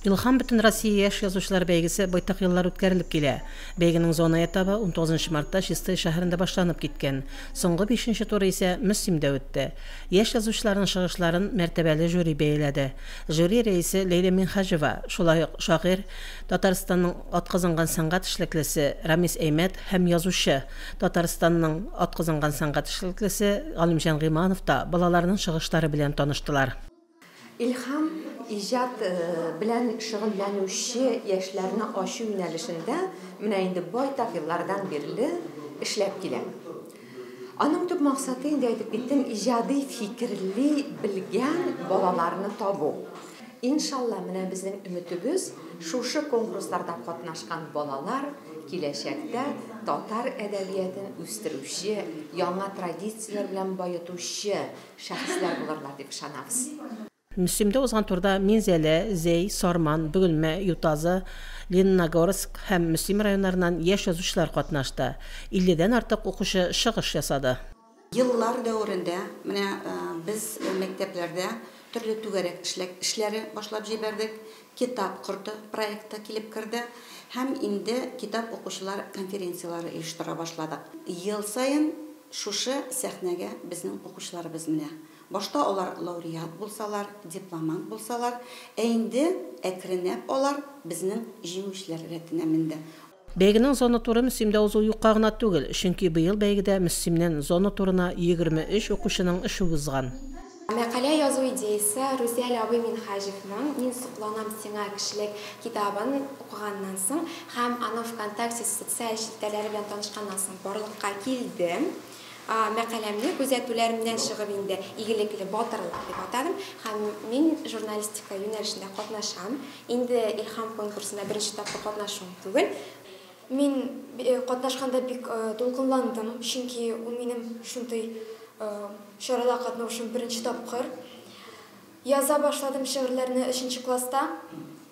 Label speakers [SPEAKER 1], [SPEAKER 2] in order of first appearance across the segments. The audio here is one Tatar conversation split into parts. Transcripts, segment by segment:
[SPEAKER 1] Илһам Бөтенроссия яшь язучылар бәйгесе байтак еллар үткәрелеп килә. Бәйгенең зона этабы унтугызынчы мартта Чистай шәһәрендә башланып киткән. Соңгы бишенче туры исә Мөслимдә үтте. Яшь язучыларның чыгышларын мәртәбәле жюри бәяләде. Жюри рәисе Ләйлә Минһаҗева, шулай ук шагыйрь, Татарстанның атказанган сәнгать эшлеклесе Рамис Әймәт һәм язучы, Татарстанның атказанган сәнгать эшлеклесе Галимҗан Гыйманов та балаларның чыгышлары белән таныштылар. Илһам,
[SPEAKER 2] иҗат белән шөгыльләнүче яшьләрне ачу юнәлешендә менә инде байтак еллардан бирле эшләп килә. Аның төп максаты, инде әйтеп киттем, иҗади фикерли белгән балаларны табу. Иншалла, менә безнең өметебез, шушы конкурсларда катнашкан балалар киләчәктә татар әдәбиятын үстерүче, яңа традицияләр белән баетучы шәхесләр булырлар дип ышанабыз. Мөслимдә
[SPEAKER 1] узган турда Минзәлә, Зәй, Сарман, Бөгелмә, Ютазы, Лениногорск һәм Мөслим районнарыннан яшь язучылар катнашты. Илледән артык укучы чыгыш ясады. Еллар
[SPEAKER 3] дәверендә менә без мәктәпләрдә төрле түгәрәк эшләре башлап җибәрдек. Китап корты проекты килеп керде һәм инде китап укучылар конференцияләре оештыра башладык. Ел саен шушы сәхнәгә безнең укучыларыбыз менә. Башта алар лауреат булсалар, дипломант булсалар, ә инде әкренләп алар безнең җиңүчеләр рәтенә менде. Бәйгенең зона
[SPEAKER 1] туры Мөслимдә узуы юкка гына түгел, чөнки быел бәйгедә Мөслимнән зона турына 23 укучының эше узган. Мәкалә
[SPEAKER 4] язу идеясе Рүзәл абый Минһаҗевның Мин сокланам сиңа, кешелек китабын укыганнан соң һәм аның Вконтакте социаль челтәрләре белән танышканнан соң барлыкка килде. Мәкаләмне күзәтүләр меннән чыгып инде Игелекле батырлар дип атадым һәм мин журналистика юнәлешендә катнашам. Инде Илһам конкурсында беренче тапкыр катнашуым түгел. Мин катнашканда бик дулкынландым, чөнки ул минем шундый чарада катнаушым беренче тапкыр. Яза башладым шигырьләрне өченче класста.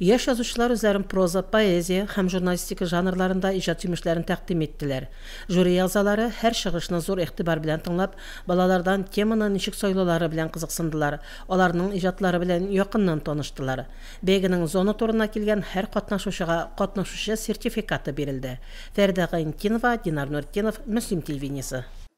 [SPEAKER 1] Яшь язучылар үзләрен проза, поэзия һәм журналистика жанрларында иҗат җимешләрен тәкъдим иттеләр. Жюри әгъзалары, һәр чыгышны зур игътибар белән тыңлап, балалардан теманы ничек сайлаулары белән кызыксындылар, аларның иҗатлары белән якыннан таныштылар. Бәйгенең зона турына килгән һәр катнашучыга катнашучы сертификаты бирелде. Фәридә Гайнтдинова, Динар Нуретдинов, Мөслим телевидениесе.